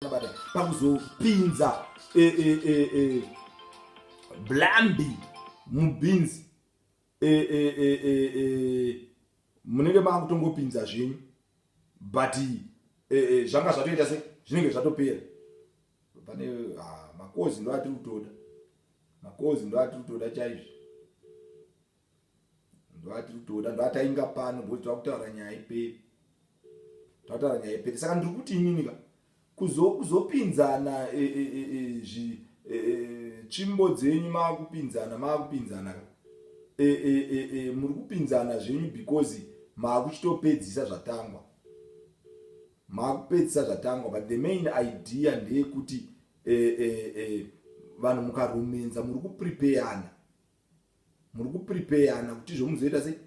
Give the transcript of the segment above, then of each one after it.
bata pakuzopinza e, e, e, e, blambi mubhinzi e, e, e, e, e, munenge makutongopinza zvenyu but e, e, zvanga zvatoita se zvinenge zvatopera pane ah, makozi ndoatiri kutoda makozi ndoatiri kutoda chaizvo ndovatiri kutoda ndoatainga pano ngokuti tava kutaura nyaya iperi tataura nyaya iperi saka ndiri kuti inini ka kuzopinzana e, e, e, tsvimbo dzenyu maakupinzana maakupinzana ka muri kupinzana zvenyu because maakuchitopedzisa zvatangwa maakupedzisa zvatangwa but the main idea ndeyekuti vanhu mukarumenza muri kuprepeyana muri kuprepeyana kuti izvo muzoita sei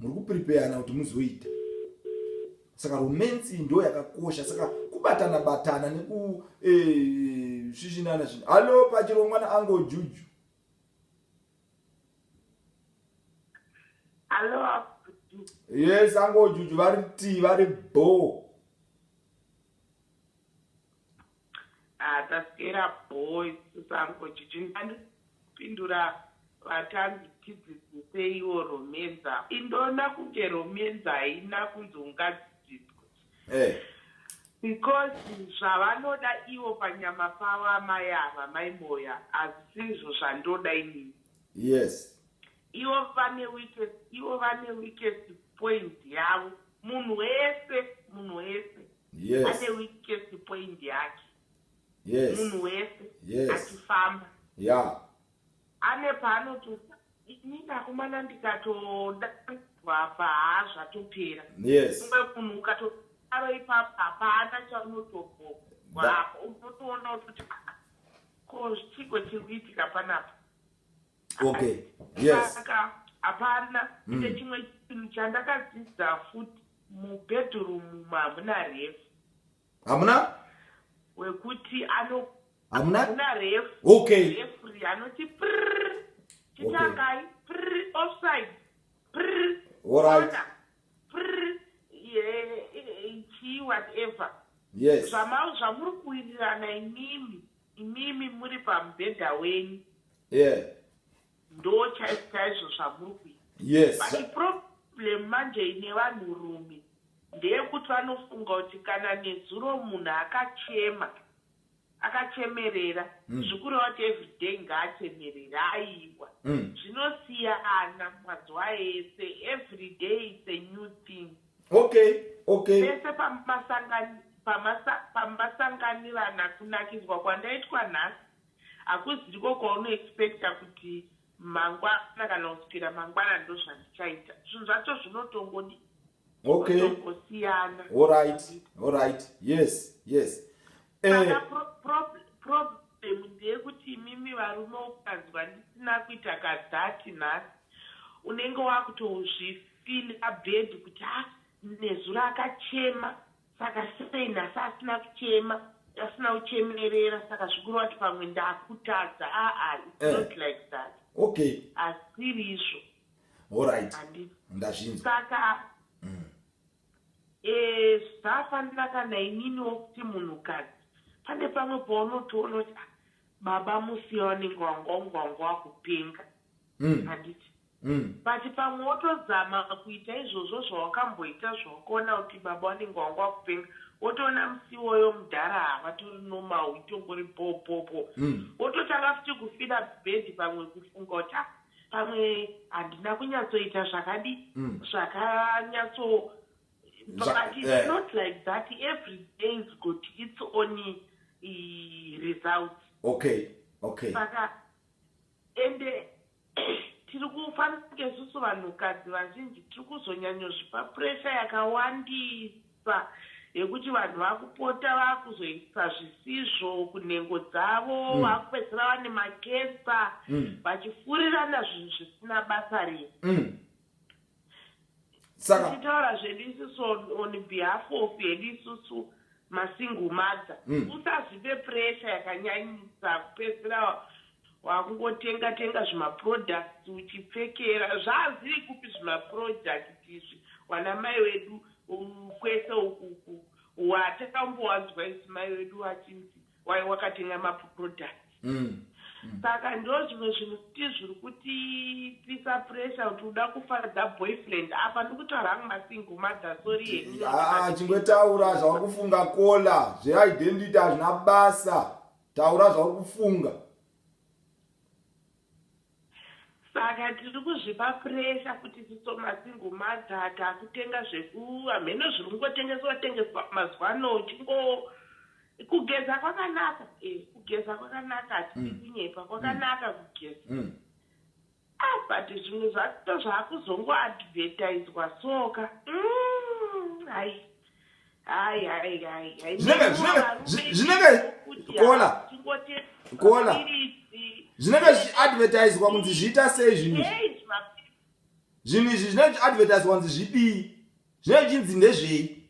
muri kuprepeyana kuti muzoita saka romansi ndo yakakosha saka kubatana batana nekusvishinana eh, zvinhu hallo pachirongwa naango juju yes ango juju vari tii vari bhoo Haa taswera bho isu sango jiji ndani kupindura vatanzi tidzidziseiwo romance apa ini ndoona kunge romance haina kunzi ungadzidziswe because zvavanoda ivo panyama pavo amai ava mai Moyo hazvisizvo zvandoda inini yes ivo vane weakest ivo vane weakest point yavo munhu wese munhu wese yes. ane weakest point yake yes. munhu wese yes. achifamba yeah. ane paanototi inini akomana ndikatoda apa haa zvatopera yes. umwe munhu ukatodaro ipapo hapana chaunotogoa apo unotoona kuti ko chiko chiri kuitika panapa okay yes saka hapana mm. ine chimwe chinhu chandakadzidza futi mubedroom umu hamuna refu hamuna wekuti ano hamuna hamuna refu okay refu ri anoti prr chitangai okay. prr offside prr alright prr ye chi whatever yes zvamau zvamuri kuwirirana imimi Imimi muri pamubhedha wenyu. Yeah. Ndo chaizvo chaizvo zvamuri kuita. Yes. But problem manje ine vanhu rume ndeyekuti vanofunga kuti kana nezuro munhu akachema akachemerera mm. zvikureva kuti everyday ngaachemerere aiwa mm. zvinosiyana mazuva ese everyday its a new thing okay okay pese pamasanganirana kunakidzwa kwandaitwa nhasi hakuziriko kwaunoexpecta kuti mangwana kana kusukira mangwana ndozvandichaita zvinhu zvacho zvinotongodi okay. zvinotongosiyana allright allright yes yes Eh. problem ndeyekuti imimi varume ukanzwa ndisina kuita kadhati nhasi unenge wakutozvifila bed kuti ha ah, nezuro akachema saka sei nhasi asina kuchema asina kuchemerera saka zvikuru wati pamwe ndakutadza aa ah, ah, its eh. not like that okay asiri izvo orit ndazvinzwa saka mm. Eeh zvisafanira kana ininiwo kuti munhukadzi pane pamwe paunotoona kuti ah baba musiye vanenge vanga vanga vanga vakupenga Umm handiti umm. But pamwe wotozama kuita izvozvo zvawakamboita zvawakaona kuti baba vanenge vanga vakupenga wotoona musi iwoyo mudhara haa vatori normal itongori bhoo bhoo bhoo Umm. wototanga futi kufeeler bad pamwe kufunga kuti ah pamwe handina kunyatsoita zvakadi mm. zvakanyatso but it's yeah. not like that every day is got its own uh, results okay okay saka ende tiri kufanira kunge susu vanhukadzi vazhinji tiri kuzonyanyozvipa pressure yakawandisa Nzira yekuti vanhu vakupota vakuzoisa zvisizvo kunhengo dzavo vakupedzisira vane macancer vachifurirana zvinhu zvisina basa rese. Tichitaura zvedu isusu on behalf of hedu isusu masingle mother usazvipe pressure yakanyanyisa kupedzisira wakungotenga tenga zvimaproducts uchipfekera. Zvaaziri kupi zvimaproduct izvi wanamai wedu Umm kwese uku uku watakambowanzwa isu mai vedu vachinzi wai wakatenga ma products saka ndozvimwe zvinhu futi zviri kutipisa pressure kuti uda kufadza boyfriend apa ndikutaura hangu ma single mother sorry henyu Haa chingotaura zvauri kufunga kola zve identity hazvina basa taura zvauri kufunga. Saka tiri kuzvipa pressure kuti tisomasingle mother takutenga zveku hamheno zviri kungotengeswa tengeswa mazuva ano uchingo kugeza kwakanaka eh kugeza kwakanaka hatidi kunyepa kwakanaka kugeza ah but zvimwe zvacho ndozvaakuzongo advertiswa so ka umm hai. zvinenge kola kola zvinenge zvichiadvertiswa kunzi zviita sei zvinhu zvinhu izvi zvinenge zvichiadvertiswa kunzi zvidii zvinenge zvichinzi ndezvei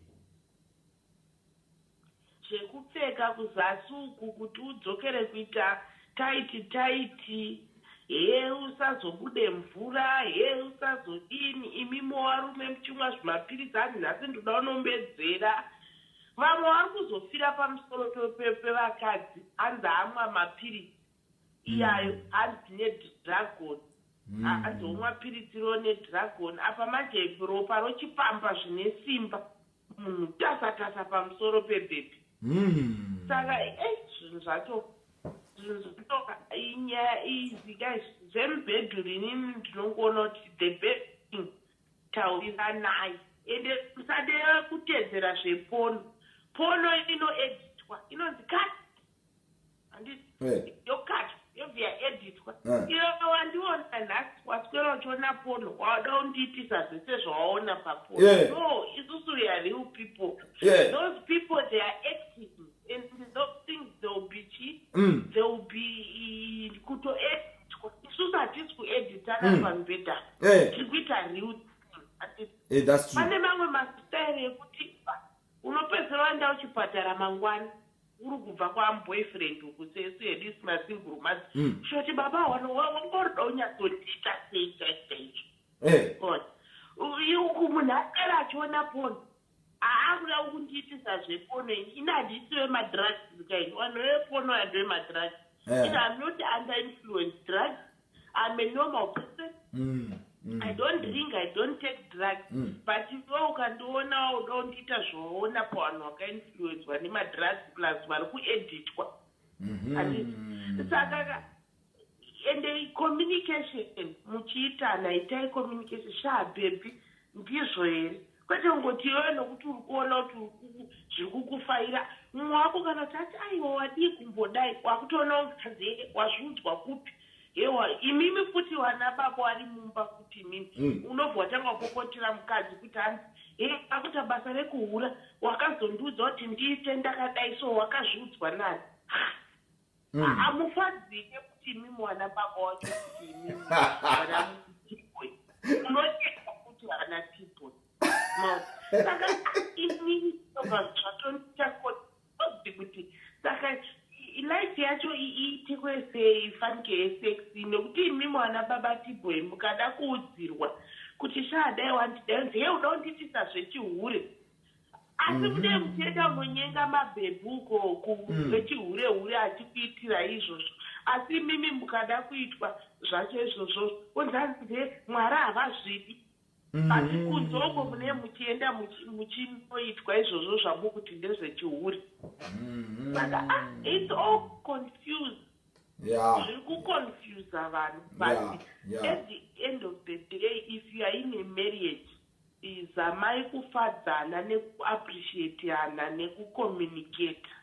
zvekupfeka kuzasi uku kuti udzokere kuita taiti taiti Hee usazobude mvura hee usazodini imi movarume muchimwa zvimapiritsi hanzi nhasi ndoda unombedzera vamwe vari kuzofira pamusoro pevakadzi hanzi amwa mapiritsi iyayo mm. hanzi nedragon mm. hanzi omwa piritsi ro nedragon apa manje ropa rochipamba zvine simba munhu tasa tasa pamusoro pebhebhi saka ei zvinhu zvacho zvinhu zvacho inyaya izi guys zvemubhedhuru inini ndinongoona kuti the best thing tauriranai ende musade kutedzera zvepono pono ino editwa inonzi cut eh. yokatwa yobviya editwa eh. iyo wandiona nhasi waswera uchiona pono wada undiitisa zvese zvawaona papono eh. no isusu we are real people those people they are active and those things they will be chi mm. they will be kutoeditwa isusu hatisi kueditana mm. pamubhedha tiri kuita real pane mamwe masitairi ekuti unopedzera wanda uchipatara mangwana Uri kubva kwamu boyfriend uku sesu hedu is ma single mother kutoti baba wano wangorida unyatsondiita sei chaizvo chaizvo God uku munhu aswera achiona porn aakuda ukundiitisa zve porn ini handisi wema drugs kaini wanhu wewe porn uya ndewe ma drugs ini I'm not under influence drugs I'm a normal person. Mm. Mm. I don't drink, I don't take drugs. Mm. But iwe ukandiona wauda kundiita zvawaona pavanhu wakainfluenzwa nemadrugs plus vari kueditwa. Mm -hmm. Saka ka ende communication muchiitana itai communication shaa bhebhi ndizvo here Kwete kungoti iwewe nokuti uri kuona kuti zviri kukufaira mumwe wako kana kuti ati aiwa wadii kumbodai wakutoonawo mukadzi hee wazviudzwa kupi hewa imimi futi vana baba wari mumba futi imimi mm. unobva watanga wapopotera mukadzi kuti hanzi hee akuita basa rekuhura wakazondiudza kuti ndiite ndakadai so wakazviudzwa nani Mm. Hamufadzike kuti imi mwana baba wacho kuti imi mwana mutipwe. Munonyenga kuti hana tipwe. Maona. Saka imi ndoka zvatonita kuti kuti kuti saka i- life yacho i- iitikwe sei fanike yesex nekuti imi mwana baba tipwe mukada kuudzirwa kuti shaa dai wandidai unzi he uda kundiitisa zvechihure Asi kune muteta unonyenga mabhebhu ukoko wechihure hure achikuitira izvozvo asi imimi mukada kuitwa zvacho izvozvozvo onzi hanzi nde Mwari havazvidi but kunze uko mune muchienda muchinoitwa izvozvo zvamukuti ndezvechihure saka ah it's all confused yeah. zviri kuconfusa vanhu but yeah. Yeah. at the end of the day if you are in a marriage Please zamai kufadzana neku appreciatiana neku communicator.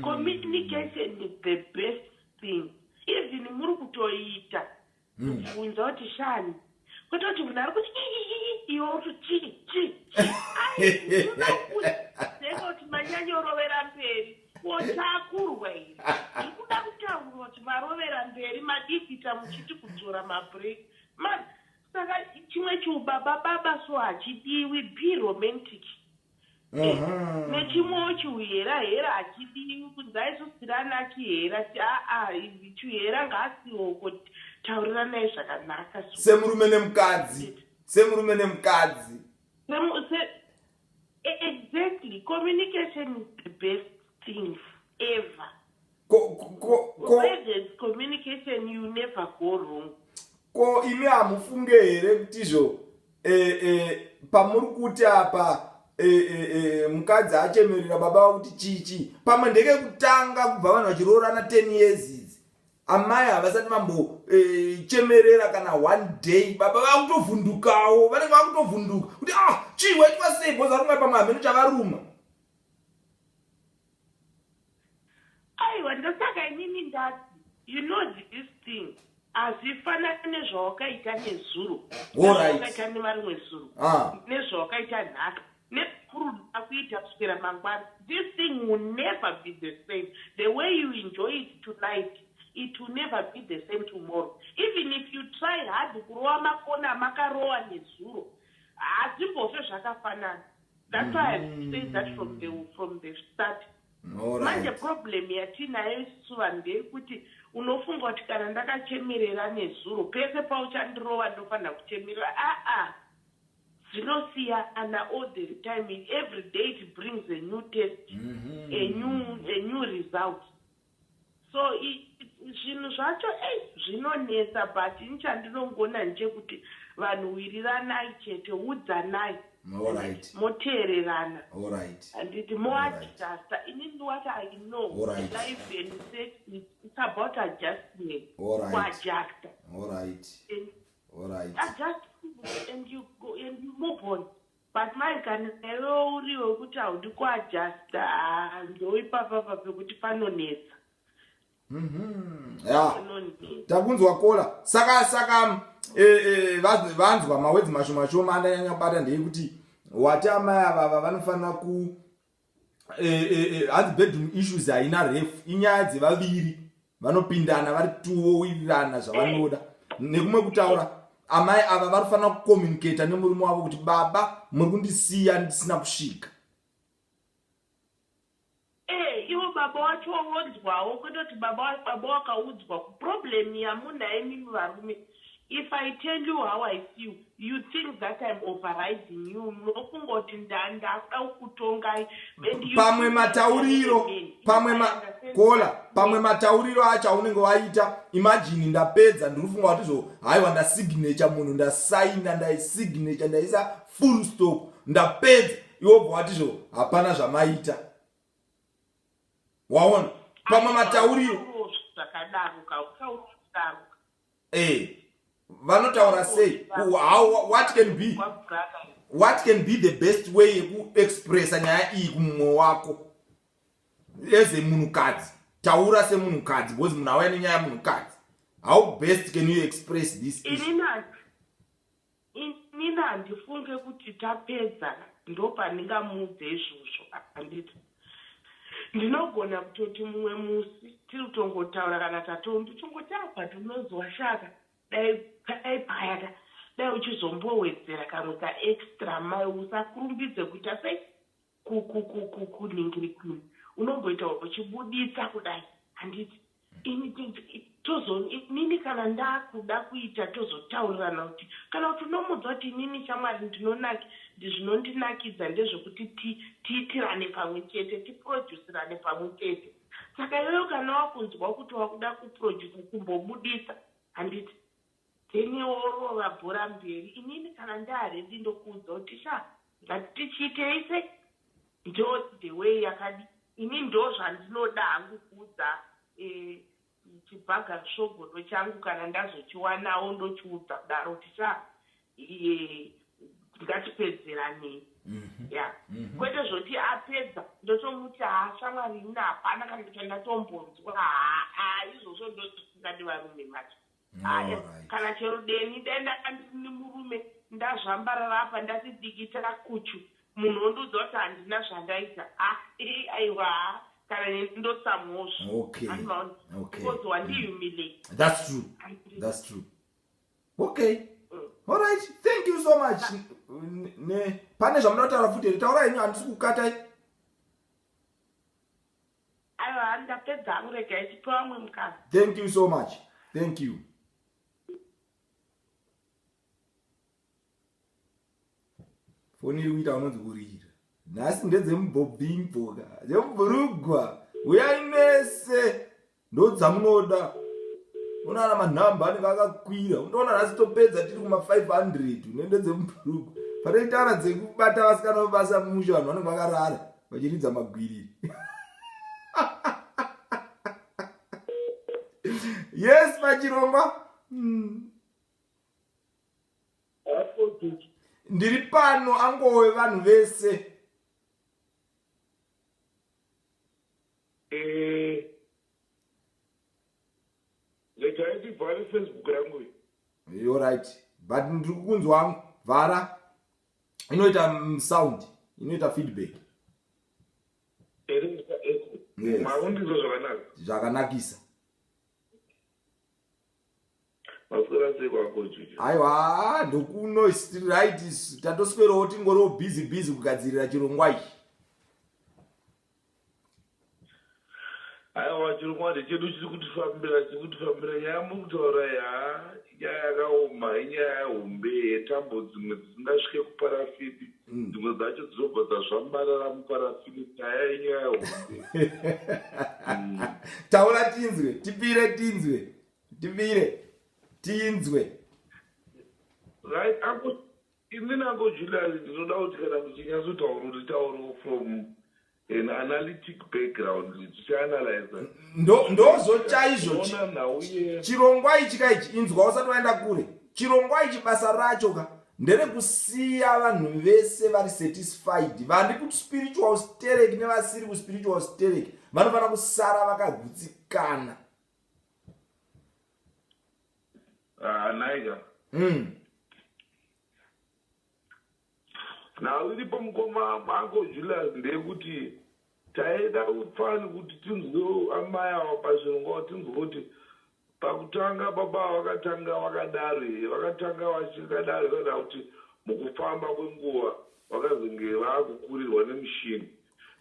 Communication is the best thing even muri kutoiita kubvunza kuti shani kwete kuti munhu ari kuti iiiii iwe uri kuti chii chii chii ai zvoda kuti zenge kuti manyanya orovera mberi ko takurwa here zviri kuda kutaurwa kuti marovera mberi madii kuita muchiti kudzora mabreak man Saka chimwe chiubaba baba so hachidiwi be romantic. Eh, nechimwewo chiuhera hera hachidiwi kunzai isu siri ana chihera ti aa chuhera ngaasioko tauriranai zvakanaka so. Semurume nemukadzi. Semurume nemukadzi. Semu, se, Exactly communication is the best thing ever. Ko ko ko where there's communication you never go wrong. Ko imi hamufunge here kuti zvo eh, eh, pamuri kuti apa eh, eh, eh, mukadzi achemerera baba vakuti chichi pamwe ndekekutanga kubva vanhu vachiroorana 10 years amai havasati vambochemerera eh, kana one day baba vakutovhundukawo vanenge vakutovhunduka kuti ah chii waitwa sei bhozi varumwa pamwe hameno chavaruma aiwa ndosaka inini ndati you know this thing hazvifanani nezvawakaita nezuro nezvawakaita nemarimwe zuro ah. nezvawakaita nhaka Nezvekuru ndoda kuita kuswera mangwana this thing will never be the same the way you enjoy it tonight it will never be the same tomorrow even if you try hard kurova makoni amakarova nezuro hazvimbofe zvakafanana that's why I have to say that from the from the start manje problem yatiinayo isusu vanhu ndeyekuti unofunga kuti kana ndakachemerera nezuro pese pauchandirova ndofanira kuchemerera aah Dzinosiyana all the time every day it brings a new test a new a new result so zvinhu zvacho ei zvinonetsa but ini chandinongona ndechekuti vanhu wiriranai chete udzanai Alright. moteererana Alright. handiti moadjuster inini what i know Alright. life and sex it's about adjustment Alright. kuadjuster Alright. and Alright. I just and you go and you move on. But mai kana iwe uri wekuti haudi kuadjusta haa ndoipapa pa pekuti panonetsa. Mhm. Yeah. Takunzwa kola. Saka saka eh eh vanzwa mawedzi mashoma shoma andanyanya kubata ndeyekuti wati amai ava vanofanira ku hanzi bedroom issues haina ref inyaya dzevaviri vanopindana vari tuowirirana zvavanoda nekumwe kutaura amai ava vari kufanira kucommunicata nemurume wavo kuti baba muri kundisiya ndisina kusvika eh, ivo baba wacho wonzwawo kwete kuti baba wakaudzwa problem yamunaye mimi varume If I tell you how I feel you think that I'm overriding you munofunga kuti ndakuda kukutongai and you pamwe matauriro pamwe ma caller pamwe matauriro acho aunenge waita imagine ndapedza ndiri kufunga kuti zvo haiwa ndasignature munhu ndasaina ndaisignature ndaisa full stop ndapedza iwo bva wati zvo hapana zvamaita waona pamwe matauriro zvakadaro kautauriro eh vanotaura sei how what can be what can be the best way yekuexpressa nyaya iyi kumumwe wako as a munhukadzi taura semunhukadzi because munhu auya nenyaya munhukadzi how best can you express this Ini handifunge kuti tapedzana ndopandingamuudze izvozvo handiti. Ndinogona kutoti mumwe musi tiri kutongotaura kana tatongo ndichingoti apa ndinonzwa shaka dai dai paya ka dai uchizombowedzera kamwe kaextra mai usakurumbidze kuita sei? Ku ku ku ku kunhingiri kunoku unomboita uchibuditsa kudai handiti ini tozoon inini kana ndakuda kuita tozotaurirana kuti kana kuti unomuudza kuti inini shamwari ndinonak zvinondinakidza ndezvekuti ti tiitirane pamwe chete tipurojusirane pamwe chete saka iwewe kana wakunzwa kuti wakuda kupurojusa chimbobuditsa handiti Daniel worova bhora mberi. Inini kana ndaa ready ndokuudza kuti sha ngatiti chiitei se njodzi the way yakadi ini ndoo zvandinoda hangu kuudza eeh chibhaga nsvogodo changu kana ndazochiwanawo ndochiudza kudaro kuti sha eeh ngatipedzeranei ya kwete zvoti apedza ndotomuti haa shamwari ini hapana kana chandatombonzwa haa izvozvo ndozvisingadi varume manje. Aya, Alright. kana chero deni dai ndanga ndini murume ndazvambarara apa ndati dikita kuchu munhu ondiudza kuti handina zvandaita ha i aiwa ha kana neni ndotsamwawo zve Okay. Handi maona Okay. because wandihumiliate That's true. Handi- That's true. Okay. Mm. All right. Thank you so much. Ne- Ne, pane zvamunotaura futi here? Taura henyu handisi kukatai. Aiwa hanzi ndapedza hangu regai tipe vamwe mukana. Thank you so much. Thank you. Foni iri kuita unonzi kurira. Nhasi ndedzemubhobhimboka. Dzemubhurugwa. Uyai mese. Ndodzamunoda. Unoona manhamba anenge akakwira. Unoona nhasi topedza tiri kuma 500 unende dzemubhurugwa. Panoitana dzekubata vasikana vebasa musha vanhu vanenge vakarara. vachiridza magwiri yes machirongwa mm. ndiri pano angowe vanhu vese eh, regai ndivhare facebook yangu yorit but ndiri kukunzwa vhara inoita mm, sound inoita feedback zvakanakisa aiwa ndokunoisright tatoswerowo tingoriwo busy busy kugadzirira chirongwa ichi Aiwa chokwadi chedu chiri kutifambira chiri kutifambira nyaya muri kutaura iyi haa inyaya yakaoma inyaya hombe yetambo dzimwe dzisingasvike kuparafini mm. dzimwe dzacho dzinobva dzazvambarara muparafini nyaya inyaya hombe mm. taura tinzwe tipire tinzwe tipire tinzwe right Ini nangu Julius ndinoda kuti kana muchinyatsotaura uri taurewo from an analytic background tichianalyza ndo ndozvo chaizvo chi- Unoona nhau ye chirongwa ichi ka ichi inzwa usati waenda kure chirongwa ichi basa racho ka nderekusiya vanhu vese vari satisfied vari kuspiritual sterek nevasiri kuspiritual sterek vanofanira kusara vakagutsikana Naiga. Mm. Now iripo mukoma mako Julius ndeyekuti taida fani kuti tinzwewo amai awa pazvirongwa tinzwe kuti pakutanga baba vakatanga vakadaro here vakatanga vachikadaro kana kuti mukufamba kwenguva vakazenge vakukurirwa nemushini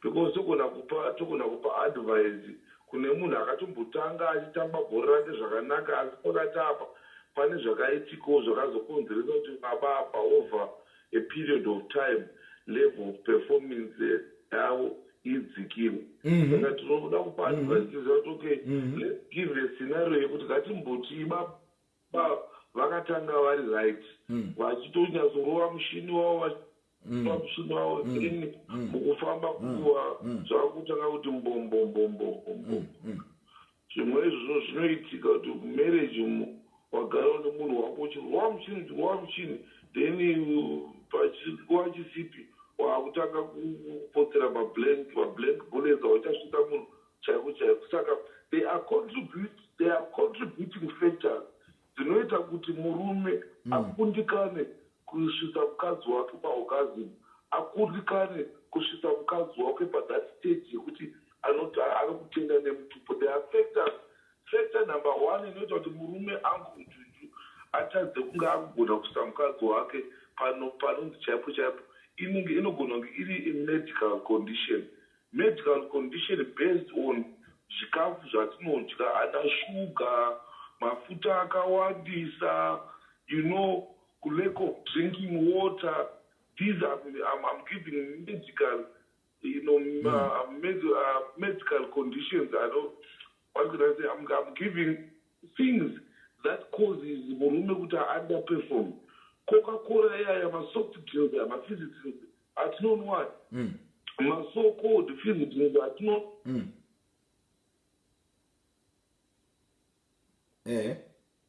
Because togona kupa togona kupa advise kune munhu akatombotanga achitamba bhora rake zvakanaka asi pakati apa pane zvakaitikawo zvakazokonzeresa kuti baba apa over a period of time level of performance yavo idzikire Mhm. saka tinoda kupa Mhm. advise tiziva kuti okay Mhm. let's give a scenario yekuti ngatimbotii baba vakatanga vari right Mhm. vachitonyasorova mushini wavo vachi- Mm. pamusunawo Mm. then Mm. mukufamba kuwa Mm. zvakutanga kuti mbombombombombombo Mm. zvimwe izvozvo zvinoitika kuti mumarriage umu wagara une munhu wako uchirwa muchini uchirwa muchini then you- pachinguva chisipi wakutanga kupotsera mablank mablank bullets auchasvita munhu chaiko chaiko saka they are contribute they are contributing factors dzinoita kuti murume akundikane kusvitsa mukadzi wake paorgasm, akundikane kusvitsa mukadzi wake pathat stage yekuti anoti arikutenda nemutupo. There are factors, factor number one inoita kuti murume anzwe ujuju atadze kunge akugona kusvitsa mukadzi wake panonzi chaipo chaipo inenge inogona kunge iri imedical condition Medical condition based on zvikafu zvatinodya ana sugar, mafuta akawandisa, you know ku lack of drinking water these am am am giving medical you know uh, med uh, medical conditions I don't what could I say I'm, I'm giving things that causes murume kuti underperform coca cola iyaya masoft drinks aya mafizzy drinks atinonwaya mm. maso called visitors atino mm. eh.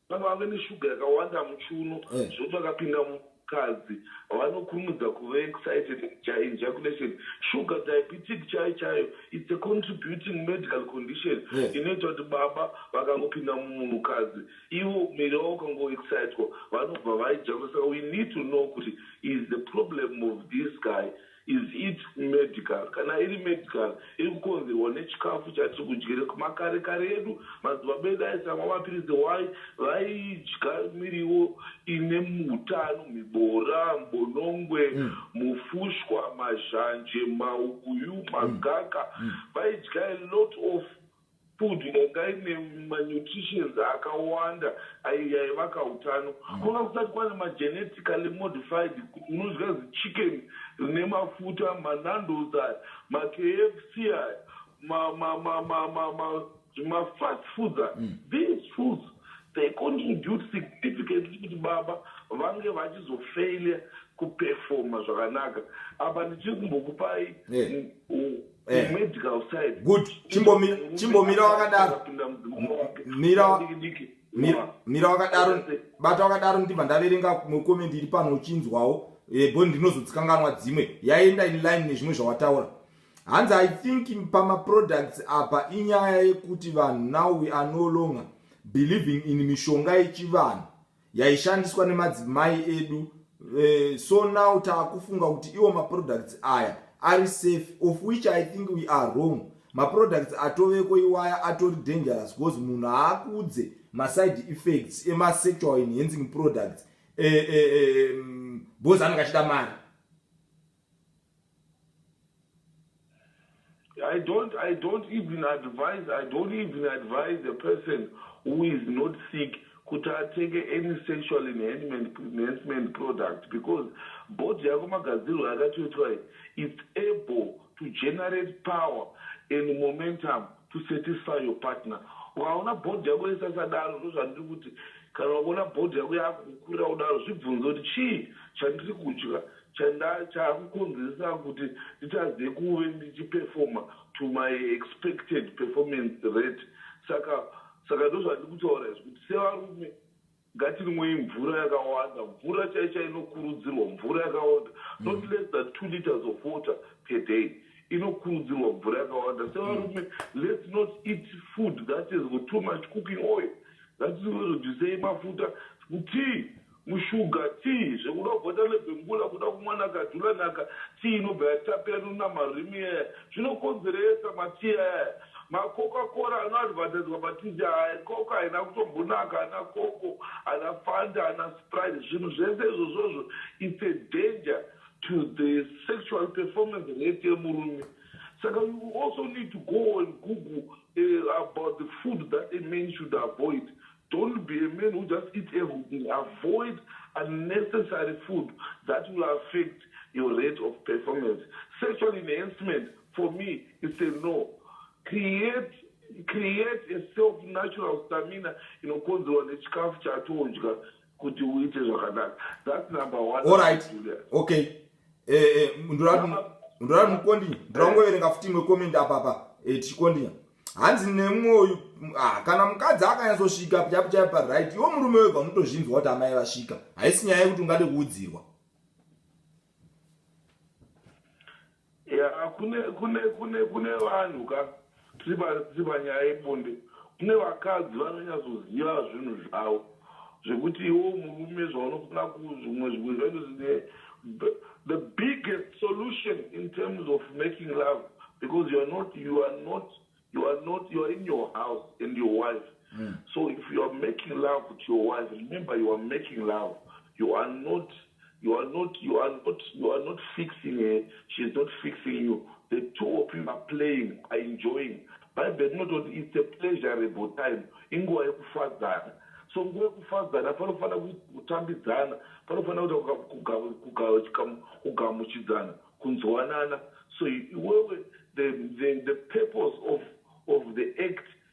kana vave neshuga yakawanda muchuno eh. zvokuti vakapinda mukadzi vanokurumidza kuve excited ejaculation sugar diabetic chai chayo its a contributing medical condition eh. inoita kuti baba vakangopinda mumunhukadzi Ivo mheni vavo vakango excitwa vanobva vaidhakwa saka we need to know kuti is the problem of this guy is it medical kana iri medical iri kukonzerwa nechikafu chatiri kudyira kumakare kare edu madzibaba edu aisamwa mapiritsi why vaidya miriwo ine mutano mibora mbonongwe mm. mufushwa mazhanje mauyu mm. magaka mm. vaidya a lot of Food yanga ine manutritions akawanda ayo yaiva kautano. Kwanga kusati kwane magenetically modified unodya zichicken rine mafuta, maNandos aya, maKFC aya, mazvimafast foods aya. These foods they contribute significantly kuti baba vange vachizofailure kuperformer zvakanaka. Apa ndichiri kumbokupai. good chimbomira chimbomira wakadaro mira mira wakadaro bata wakadaro ndibva ndaverenga comment iri pano uchinzwawo eh, bo ndinozodzikanganwa dzimwe yaenda in line nezvimwe zvawataura hanzi i think pamaproducts apa inyaya yekuti vanhu now we are no longer believing in mishonga yechivanhu yaishandiswa nemadzimai edu uh, so now taakufunga kuti iwo maproducts aya ari safe of which i think we are wrong maproducts atoveko iwaya atori dangerous because munhu haakuudze maside effects emasexual enhancing products eh, eh, eh, mm, because anenge achida mari I don't, I don't even advise, I don't even advise a person who is not sick kuti atenge any sexual enhancement product because body yako magadzirwo yakatoitwa iyi it's able to generate power and momentum to satisfy your partner ukaona body yako isasadaro ndozvandiri kuti kana ukaona body yako yakukukurira kudaro zvibvunze kuti chii chandiri kudya Chandachakukonzeresa kuti nditadze kuve ndichiperformer to my expected performance rate saka saka ndozvandiri kutaura izvi kuti sevarume ngatinwei mvura yakawanda mvura chaicha inokurudzirwa mvura yakawanda not mm. less than two liters of water per day inokurudzirwa mvura yakawanda sevarume mm. let's not eat food that is got too much cooking oil ngatirudisei mafuta tii Mushuga tea zvekuda kuvhota lebembula kuda kumwa naka dhula naka tea inobva yatapira nokuna marimi iyaya zvinokonzeresa ma tea ayaya ma coca cola ano advertiswa pa tv ayaya coca haina kutombonaka ana coco ana fanta ana sprite zvinhu zvese izvozvozvo it's a danger to the sexual performance rate yemurume saka you also need to go and google about the food that a man should avoid Don't be a man who just eats everything, avoid unnecessary food that will affect your rate of performance. Sexual enhancement for me is a no. Create create a self natural stamina inokonzerwa nechikafu chatodya kuti uite zvakanaka thats number one allright okay eh, eh, ndoda mukondi ndoda kungoverenga futi imwe comment apapa eh, tichikondinya hanzi nemumwe uyu ah, kana mukadzi akanyatsosvika chapo chaipo paright iwo murume wega unotozvinzwa kuti amai vasvika haisi nyaya yekuti ungade kuudzirwa ya kune kune kune kune vanhu ka tiri panyaya yebonde kune vakadzi vanonyatsoziva zvinhu zvavo Zvekuti iwewe murume zvaunofunga kuzvimwe zvimwe zvacho zvine the biggest solution in terms of making love because you are not you are not you are not you are in your house and your wife mm. so if you are making love to your wife remember you are making love you are not You are not you are not you are not fixing her she is not fixing you the two of you are playing are enjoying bhaibheri rinototi its a pleasurable time inguva yekufadzana so nguva yekufadzana panofanira kuita kutambidzana panofanira kuita kugamuchidzana kunzwanana so iwewe the, the, the purpose of, of the act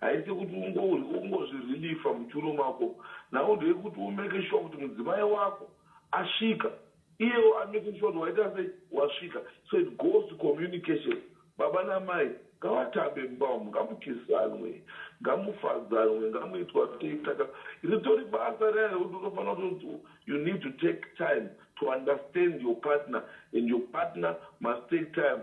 Haisi kuti ungodya ungozvirelifa muchiuno mako. Nhau ndeyekuti u make sure kuti mudzimai wako asvika iyewo a make sure kuti waita sei wasvika. So it goes to communication. Baba namai ngavatambe mumba umu, ngamukisanwe, ngamufadzanwe, ngamuitwa sei saka ritori basa riya rekuti unofanira kuti you need to take time to understand your partner and your partner must take time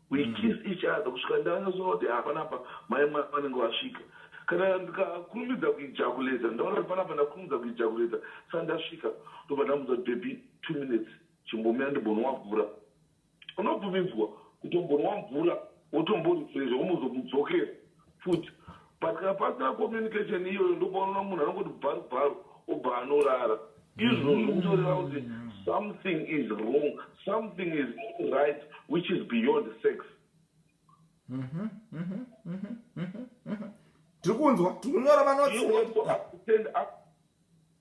We kissed each other kusvika ndanyatsoona kuti haa panapa mai mwana vanenge vasvika. Kana ndikakurumidza kuijakuleta ndaona kuti panapa ndakurumidza kuijakuleta saka ndasvika ndobva ndamudza kuti baby two minutes chimbomira ndimbonwa mvura. Unobvumidzwa kutombonwa mvura wotomborefresha wombozomudzokera. futi pasina pasina communication iyoyo ndopaunoona munhu anongoti bharu bharu obva anorara izvozvo mm. kutoreva kuti something is wrong something is right which is beyond sex mhm, mhm, mhm, tiri kunzwa tiri kunyora vanotsi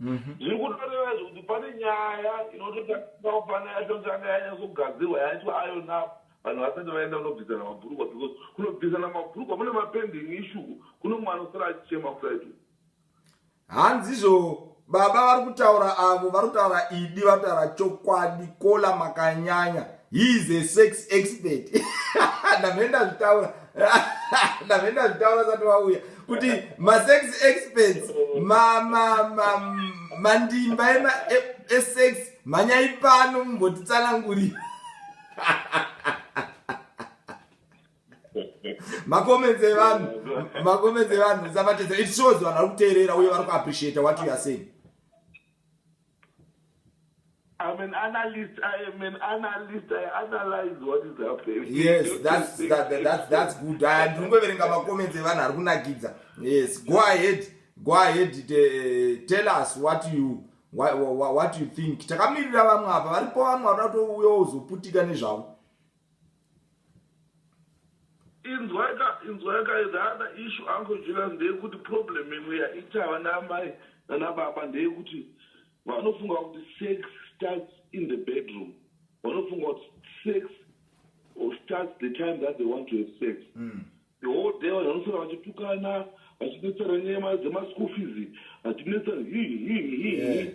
Mhm. zviri kutoreva izvo kuti pane nyaya inototarisirawo pana yatotanga yanyatsogadzirwa yaitwa iron up vanhu vasati vaenda kunobvisana mabhurukwa because kunobvisana mabhurukwa mune mapending ishuku kune mumwe anosara achichema kudai tu hanzizvo baba vari kutaura avo vari kutaura idi vari kutaura chokwadi kola makanyanya he is a sex expert ndamhenda zvitaura ndamhenda zvitaura sati vauya kuti masex experts mandimba esex e, mhanyai pano mumbotitsanangurira makomenzi evanhu makomenzi evanhu isavatedza it shows vanhu vari kuteerera uye vari kuappreciata what you are saying I'm an analyst. I am an analyst. I analyze what is happening. Yes, that's that, that, that's that's good. I am kungoverenga ma comments evanhu ari kunakidza. Yes, go ahead. Go ahead. Uh, tell us what you what, what, what you think. Takamirira vamwe apa varipo vamwe vanoda kutouya uzoputika nezvavo. Inzwai ka inzwai ka the other issue uncle Julius ndeyekuti problem imwe yaita vana amai nana baba ndeyekuti vanofunga kuti sex starts in the bedroom vanofunga kuti sex starts the time that they want to have sex mm. The whole day vanhu vanoswera vachitukana vachinetsana nyaya mari dzemaschool fees vachinetsana hi hi hi hi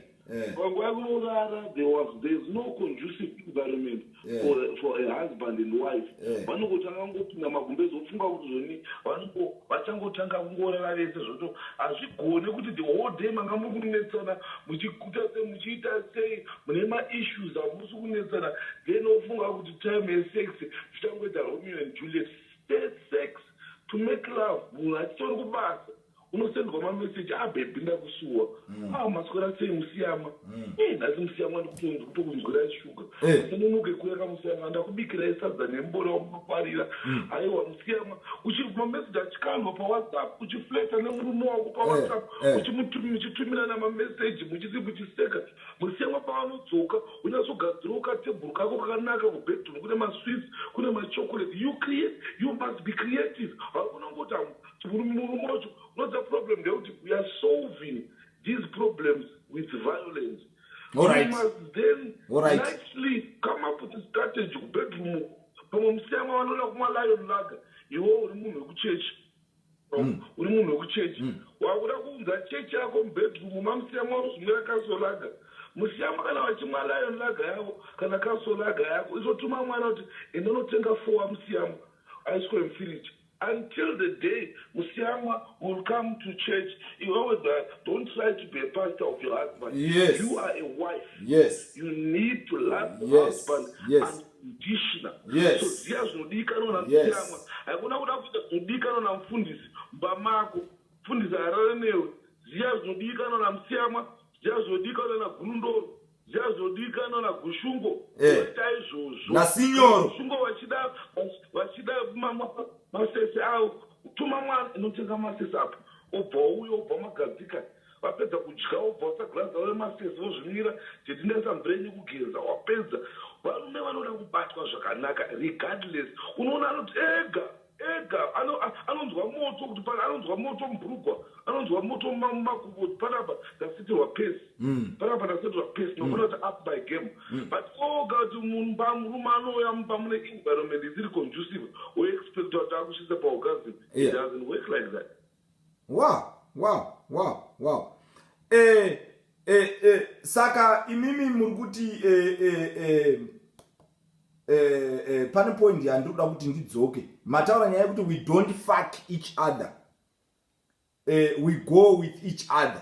panguva yekurorara there was there is no conducive environment for, for a husband and wife vanongotanga kungopinda magumbezi vofunga kuti zvoni vanongo vachangotanga kungorara vese zvoto hazvigone kuti the whole day manga muri kunetsana muchikuta sei muchiita sei mune maissues amusi kunetsana then vofunga kuti time yesex zvichangoita romeo and juliet First sex to make love munhu achitori kubasa unosendwa mameseji a ah, bhebhi ndakusuwa mm. a ah, maswera sei musiyama mm. e nhasi musiyama ndikutokunzwirai shuga hey. Eh. asinonoke kuya kamusiyama ndakubikirai sadza nembora wamunofarira mm. aiwa musiyama uchiri kumameseji achikanwa pawhatsapp uchifleta nemurume wako pawhatsapp hey. Eh, hey. uchitumira namameseji muchisi muchiseka Musiyamwa paanodzoka unyatsogadzirawo katebhuru kako kakanaka kubedroom kune masweets kune machocolate you create you must be creative haukona kungoti hamu murume wacho unoziva problem ndeyekuti we are solving these problems with violence Alright. You must then Alright. nicely come up with a strategy kubedroom pamwe musiyamwa vanoda kumwa lion lager iwo uri munhu wekuchechi Mm. uri munhu wekuchechi mm. wakuda kuunza chechi yako mubedroom mamusiya mwauzumira kasolaga musiyamo kana vachimwa lion laga yavo kana kasolaga yako izotuma mwana kuti inonotenga fowa musiyamo ice cream fridge until the day musiyamwa will come to church you always uh, don't try to be a pastor of your husband yes. you are a wife yes. you need to love yes. your husband yes. and Ndishina. Yes. So ziya zvinodikanwa na Yes. Mutiyamwa. Haikona kuda kuita zvinodikanwa na mfundisi mumba mako. Mfundisi haarare newe. Ziya zvinodikanwa na Mutiyamwa. Ziya zvinodikanwa na Gurundoro. Ziya zvinodikanwa na Gushungo. Eh. Voita izvozvo. Na Sinyoro. Gushungo vachida vach- vachida ma- ma- masese avo. Tuma mwana inotenga masese apo. Obva wauya obva magadzika. Vapedza kudya vobva vatsa glass ravo remasters vozvinwira tete ndaisa mvura yenyu kugenza wapedza varume vanoda kubatwa zvakanaka regardless unoona anoti ega ega anonzwa moto kuti pana anonzwa moto mubhurugwa anonzwa moto mumakumbo kuti panapa ndasetirwa pesi mm. panapa ndasetirwa pesi mm. nokona kuti up my game mm. but oga kuti mumba murume anouya mumba mune environment isiri conducive woexpecta kuti akusvitsa paorgasm it doesn't work like that wow wow wow wow eh, eh, eh, saka imimi muri kuti eh, eh, eh, eh, eh, pane point yandiri kuda kuti ndidzoke mataura nyaya yekuti we don't fuck each other eh, we go with each other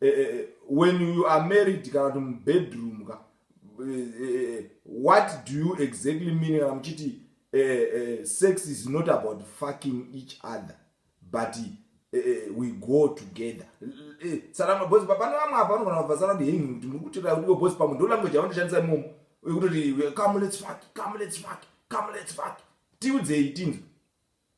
eh, eh, eh, when you are married kana kuti mubedroom ka eh, eh, eh, what do you exactly mean kana muchiti eh, eh, sex is not about fucking each other but eh, eh, we go together eh, sarama bosi pane vamwe apa vanogona kubva sara kuti hengi kuti muri kutira kuti bosi pamwe ndo language yavandishandisa imomo wekutoti come let's fuck come let's fuck come let's fuck tiudzei tinzwe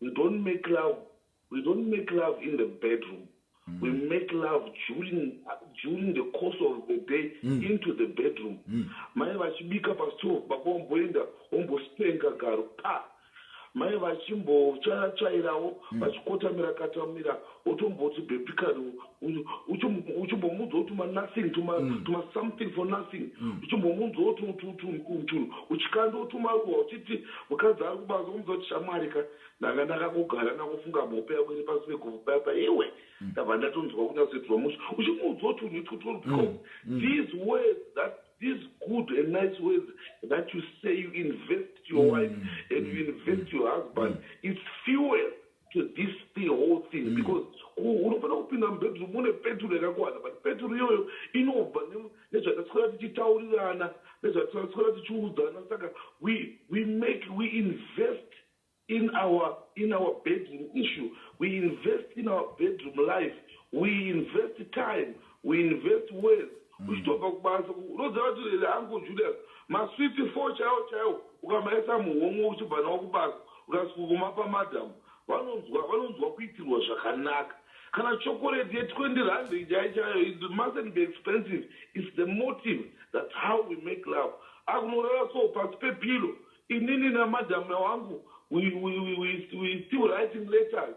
We don't make love, we don't make love in the bedroom. Mm. We make love during, uh, during the course of the day mm. into the bedroom. Mm. Mai vachibika pastove, baba vomboenda vombostenga garo pa mai vachimbochayachairawo mm. vachikotamira katamira wotomboti baby kani uchimbomunzwa kuti tuma nothing tuma mm. tuma something for nothing mm. uchimbomunzwawo tunhu uchikanda wotumaruwa uchiti mukadzi ari kubasa womunzwa kuti shamwari ka ndanga ndakangogara ndakufunga mhope yako iri pasi peguvhu paya pa iwe mm. ndabva ndatonzwa kunyasoitirwa musha uchimunzwa tunhu itwotwo because these words that these good and nice words that you say you invest your wife and you invest your husband it's fuel to this the whole thing mm. because unofanira kupinda mubedroom une peturu yakakwana but peturu iyoyo inobva nezvataswera tichitaurirana nezvataswera tichiudzana saka we, we make we invest in our in our bedroom issue we invest in our bedroom life we invest time We invest well uchitobva kubasa unoziva kuti really uncle Julius masweets four chaiwo chaiwo ukamaisa muhomwe uchibva nawo kubasa ukasvika kumapa madam vanonzwa vanonzwa kuitirwa zvakanaka kana chokoreti ye 20 rand chai chayo it mustn't be expensive it's the motive that's how we make love akunorara so pasi pepillow inini namadam wangu we, we, we, we, we still writing letters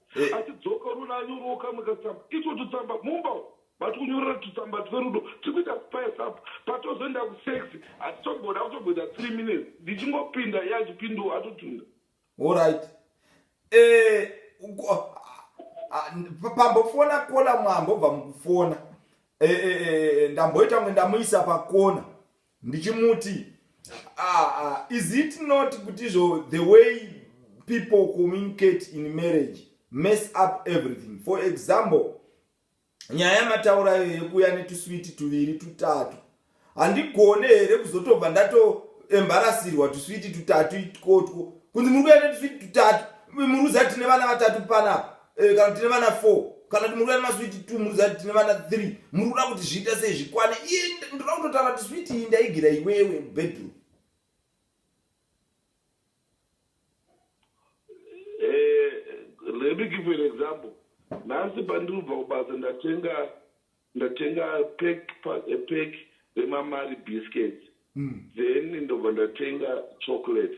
Eh. achidzoka unoona anyorawo kamwe katsamba icho tutsamba mumba umu vati kunyorera tutsamba twerudo tiri kuita spice up patozoenda kusex hatitomboda kutomboita three minutes ndichingopinda iye achipindawo atotunda Alright. Eh, uku- ah, ah, pa- pambofona kola mwambobva mukufona. Eh, eh, eh, ndamboita kunge ndamuisa pakona. Ndichimuti ah, ah, is it not kuti izvo the way people communicate in marriage mess up everything for example nyaya yamataura iyo yekuuya netuswiti tuviri tutatu handigone here kuzotobva ndatoembarasirwa tuswiti tutatu ikotwo kunzi muri kuya netuswiti tutatu muruza tine vana vatatu panapa Eh, kana tine vana four kana kuti muri kuda nemaswiti two muri zati tine vana three muri kuda kuti zviita sei zvikwane iye ndoda kutotaura kuti switi iyi ndaigira iwewe bedroom eh, let me give you an example nhasi pandiri kubva kubasa ndatenga ndatenga pek pek remamari biscuits mm. then ndobva ndatenga chocolate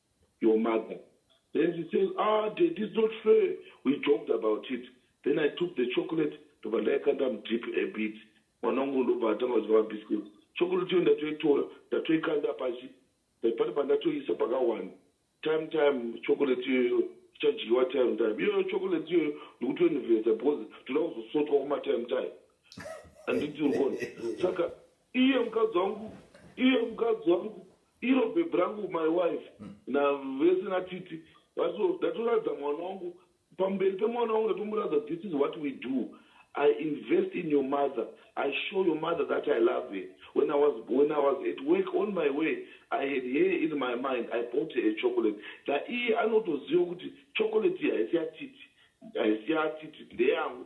your mother then she says ah daddy it's not fair we joked about it then i took the chocolate ndobva ndaikanda mudip a bit mwana wangu ndobva atanga kudya mabiscuits chocolate iyo ndatoitora ndatoikanda pasi eh, pane pandatoisa pakawanda time time chocolate iyoyo ichadyiwa time time iyoyo chocolate iyoyo ndikutoinvesta because toda kuzosotwa kumatime time anditi urikona saka iye mukadzi wangu iye mukadzi wangu iro bhebhi rangu my wife navese natiti vaso ndatoradza mwana wangu pamberi pemwana wangu ndatomuradza this is what we do i invest in your mother i show your mother that i love her when i was, when i was at work on my way i had her in my mind i bought her a chocolate naiye anotoziva kuti chocolate iyi haisi yatiti haisi yatiti ndeyangu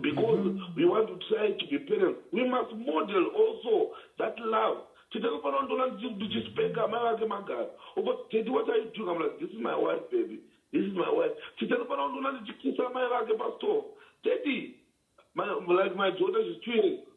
because mm -hmm. we want to try to be parents we must model also that love tete anofanira ndona ndichispeka amai vake magara uko tete what are you doing amla this is my wife baby this is my wife tete anofanira ndona ndichikisa amai vake pastore tete like my daughter she's two years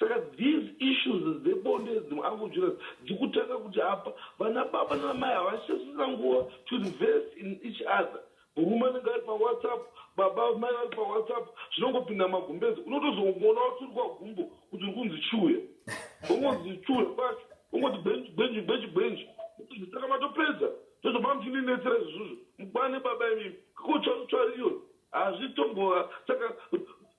Saka these issues dzebonde idzi mu uncle Jonas dzikutanga kuti apa vana baba nana mai havachasisina nguva to reverse in each other. Murume anenge ari pa whatsapp baba mai vari pa whatsapp zvinongopinda magumbeze unotozongoona waturikwa gumbo kuti uri kunzi chiuya ungonzi chiuya kwacho ungoti gwenji gwenji gwenji gwenji saka matopedza ndozvo mamuchinenetsera izvozvo mukwane baba imimi kutsvarutsvaru iyo hazvitombova saka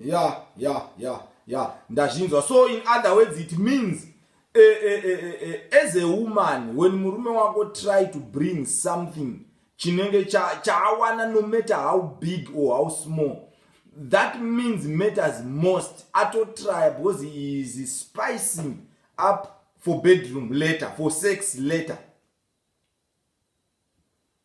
ya ya ya ya ndazvinzwa so in other words it means uh, uh, uh, uh, as a woman when murume wako try to bring something chinenge chaawana cha no matter how big or how small that means matters most atotrya because he is spicing up for bedroom later for sex later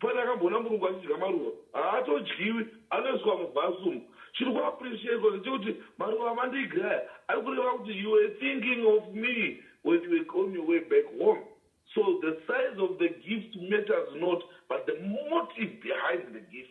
Pane akamboona murungu achidya maruva? Haatodyiwi, anoiswa muvase umu. Chiri ku appreciatwa ndechekuti maruva amandigra aya ari kureva kuti you were thinking of me when you were on your way back home. So the size of the gift matters not but the motive behind the gift.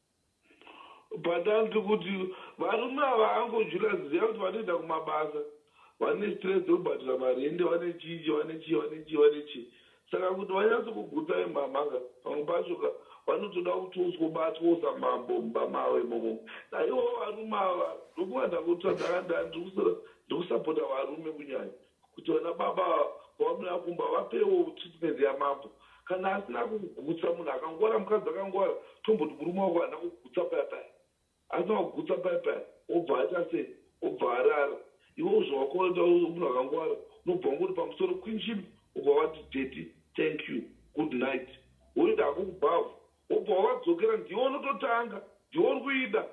Patanzi kuti varume ava hanko Julius ziva kuti vanoenda kumabasa vane stress dzekubhadhara marende vane chii chii vane chii vane chii vane chii saka kuti vanyatso kugutsa vemhamha ka pamwe pacho ka vanotoda kuti usgobatwa usa mambo mumba mavo imomo naivowo varume ava ndokuvandakutsva ndanga ndandiri kusapota varume kunyanya Kuti vana baba pavanouya kumba vapewo treatment yamambo kana asina kukugutsa munhu akangwara mukadzi akangwara tomboti murume wako haana kukugutsa paya paya asina kukugutsa paya paya obva aita sei obva arara iwe uzvo wakoenda munhu akangwara unobva ungoti pamusoro kwinjim obva wati daddy thank you good night woenda hako kubhavhu obva wadzokera ndiwe unototanga ndiwe uri kuida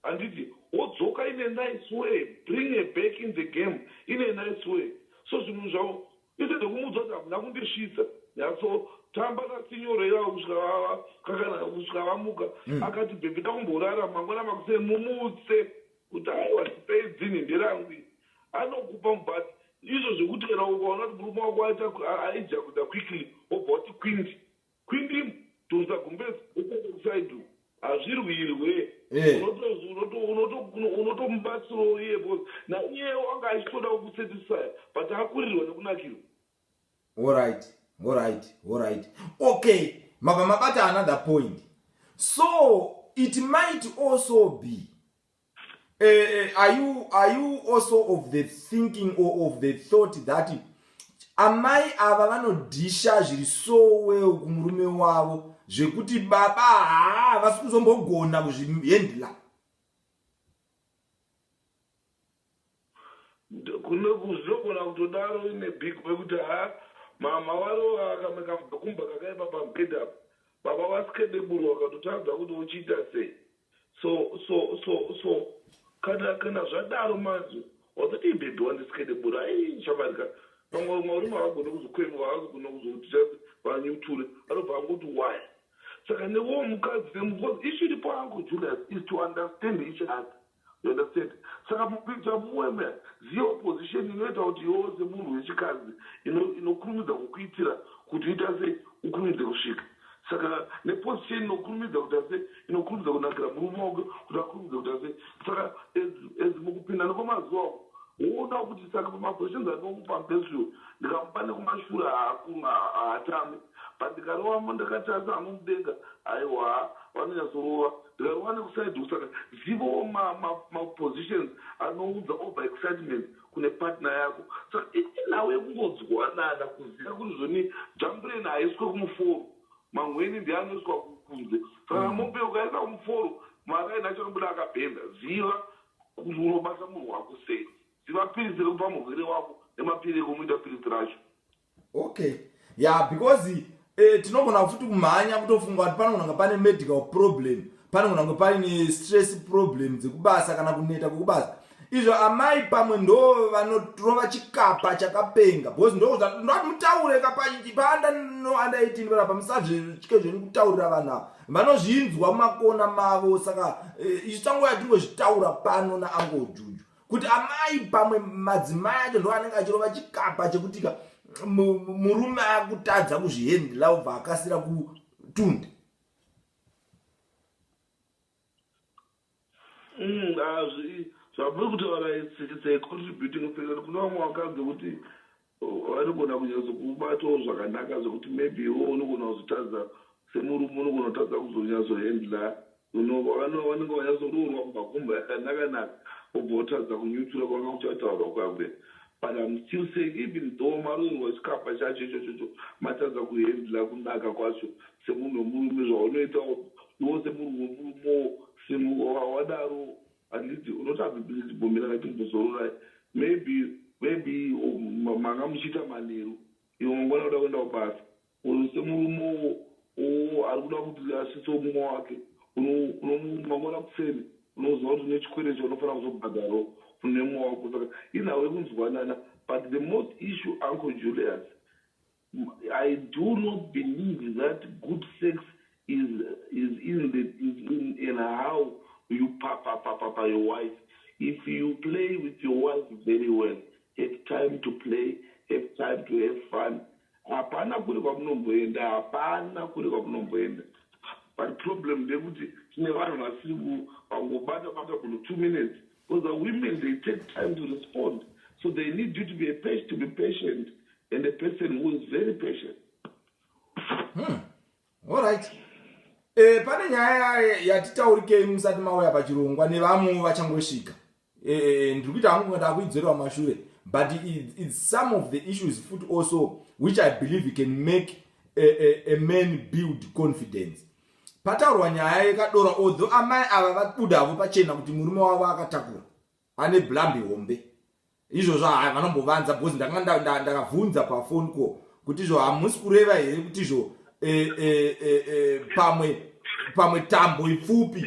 Handiti wodzoka in a nice way bring her back in the game in a nice way so zvinhu zvavo instead yekumuudza kuti hamuna kundisvitsa nyatso tamba naSinyoro ivava kusvika vava kakanaka kusvika vamuka mm. akati bhebhi dakumborara mangwana makuseni mumutse kuti aiwa ndipei dzinhi nderangu iri anokupa but izvo zvekuti kana ukaona kuti murume wako aita aija kuda quickly wobva wati kwindi Kwindimb tonza gumbezi upside u hazvirwirwe Eh. unoto- unoto- unoto- unotomubatsirawo iye bos naiyewo anga achitoda kukusatisfya but akurirwa nekunakirwa Alright, alright, alright. Okay, mabva mabata another point. So it might also be Uh, are you are you also of the thinking or of the thought that amai ava vanodhisha zviri so well kumurume wavo zvekuti baba haa vasi kuzombogona kuzvihendla Ndokugona kutodaro in a big way kuti haa mhamha varova kamwe kabvakumba kakaipa pabed apa. Baba vaSkedeburu vakatotadza kuti vochiita sei. So so so so kana kana zvadaro manje wazodii baby wandiSkedeburu ayii shamwari ka vamwe varume havagone kuzokwengwa havazogona kuzoti just vanyuture vanobva vangoti why saka newewo mukadzi because issue iripo uncle Julius is to understand each other. You understand saka mukuita mueme ziya opposition inoita kuti iwewe semunhu wechikadzi ino inokurumidza kukuitira kuti uita sei ukurumidze kusvika saka neposition inokurumidza kuita sei inokurumidza kunakira murume wako kuti akurumidze kuita sei saka as as mukupinda nekwemazuva uko woonawo kuti saka pamaquestions andinomupa mupesure ndikamupa nekumashure haaku haatambi but ndikarovamo ndakati asi anomudenga haiwa vanonyatsorova Ndakawana kuside uku saka zivawo ma ma ma positions anounza over excitement kune partner yako saka inini nhau yekungonzwanana kuziva kuti zvoni jambuleni haiswe kumuforo manhweni ndiye anoiswa kunze saka mm. mombe ukaisa kumuforo maraini acho anobuda akabhenda ziva kuti unobata munhu wako sei ziva piritsi rekupa murwere wako nemapiri ekumuita piritsi racho okay yeah because eh, tinogona futi kumhanya kutofunga kuti panogona kunge pane medical problem panogona kunge paine stress problem dzekubasa kana kuneta kwekubasa izvo amai pamwe ndo vanorova chikapa chakapenga because ndondati mutaure kapaanda no under 18 vanapa musazvitye zveni kutaurira vanhu ava vanozvinzwa mumakona mavo saka eh, isu tangoya tingozvitaura pano naangojuju kuti amai pamwe madzimai acho ndo anenge achirova chikapa chekutika murume akutadza kuzvihendla ubva akasira kutunda mm, zvamuri kutaura its a contributing factor kune vamwe vakadzi kuti Vanogona kunyatsokubatawo zvakanaka zvekuti maybe iwewe unogona kuzotadza semurume unogona kutadza kuzonyatsohandler you know vano vanenge vanyatsoroorwa kubva kumba yakanaka naka wobva wotadza kunyutsura kwanga kuchataurwa kwakuya but I'm still saying even though maroorwa chikapa chacho ichochocho matadza kuhandler kunaka kwacho semunhu wemurume zvaunoitawo iwewo semunhu wemurumewo simuka wadaro Handiti unotadza Billy Bhomera chimbozororai maybe maybe manga muchiita manheru imwe mangwana unoda kuenda kubasa or semurume uwo ari kuda kuti asvitse mumwe wake mangwana kuseni unoziva kuti une chikwere chaunofanira kuzobhadharo nemumwe wako saka inhau yekunzwanana but the most issue uncle Julius I do not believe that good sex is is in the is in in how you papa papa pa your wife if you play with your wife very well have time to play have time to have fun hapana kuri kwamunomboenda hapana kuri kwamunomboenda but problem ndekuti tine vanhu vasiri kuvangobata bata munhu two minutes Because a women they take time to respond so they need you to be a patient, to be patient and a person who is very patient. Hmm. All right. Eh, pane nyaya yatitaurikei musati mauya pachirongwa nevamwe vachangosvika eh, eh, eh, ndiri kuita hangu ndaa kuidzorerwa mashure but its some of the issues futi also which i believe can make a, a, a man build confidence Pataurwa nyaya yekadora although amai ava vabuda havo pachena kuti murume wavo akatakura ane blambi hombe izvozvo haa vanombovanza because ndakanga ndakabvunza pafoni ko kuti izvo hamusi kureva here kuti izvo e, e, e, e, pamwe pamwe tambo ipfupi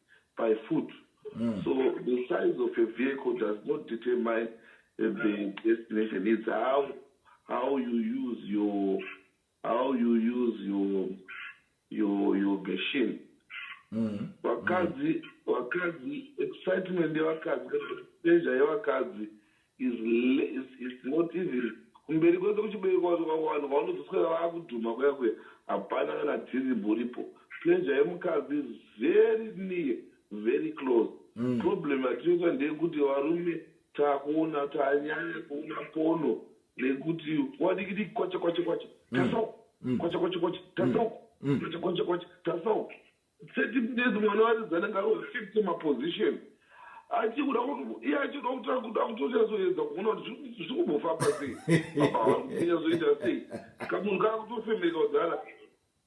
by foot mm. so the size of a vehicle does not determine the destination it's how how you use your how you use your your your machine mm. vakadzi mm. vakadzi excitement yevakadzi pleasure yevakadzi is less is not even kumberi kwese kuchibereko wacho kwako vanhu vaunozoswera vakudhuma kuya kuya hapana kana tiribu ripo pleasure yemukadzi is very near very close mm. problem yatinoita ndeyekuti varume takuona tanyanya kuona pono nekuti wadikidiki kwacha kwacha kwacha mm. tasauko mm. kwacha kwacha kwacha tasauko kwacha kwacha kwacha tasauko 30 minutes mwana waridzi anenge aroshifte maposition achikuda iye achikuda kuti akuda kutonyatsoedza kuona kuti zviri kumbofamba sei baba vari kunyatsoita sei kamunhu kaa kutofemereka kudhara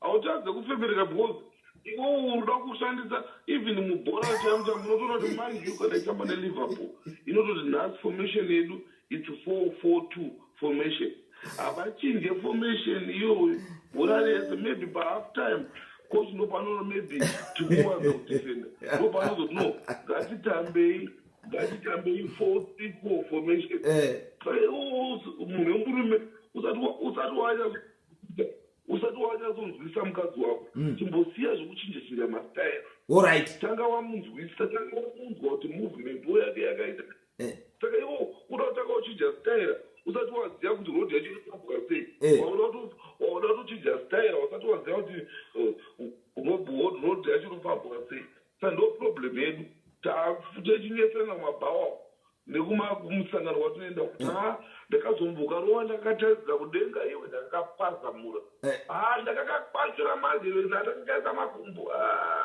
hautadze kufemereka because iwo unoda kushandisa even mubhora chaimo chamo unotoona kuti manyu kana itamba neliverpool inototi nhasi formation yedu It's 442 formation. Havachinje formation iyoyo bhora rese maybe pahalf time coach ndopanoona maybe tikuwanza kudefenda ndopanozoti no ngatitambei ngatitambei 434 formation eh. munhu wemurume usati wanya usati wanyazonzwisa mukadzi wako mm. chimbosiya zvekuchinja chinja mastaira tanga wamunzwisa tanga wamunzwa kuti movement wo yake yakaita yeah. Eh. saka iwo uda kutanga uchinja staira usati waziva kuti road yacho inotambuka sei Eh. waona kuti waona kuti uchinja staira usati waziva kuti eh, road road- road yacho inofambwa sei sa ndo problem yedu Ta- techinetsana mabhawa nekuma kumusangano kwatinoenda uku. Ah, ndakazombuka rova ndakataridza kudenga iwe ndakakapazamura Eh. Ah, ndakakakwanzira manje ndakakaisa makumbo Ah.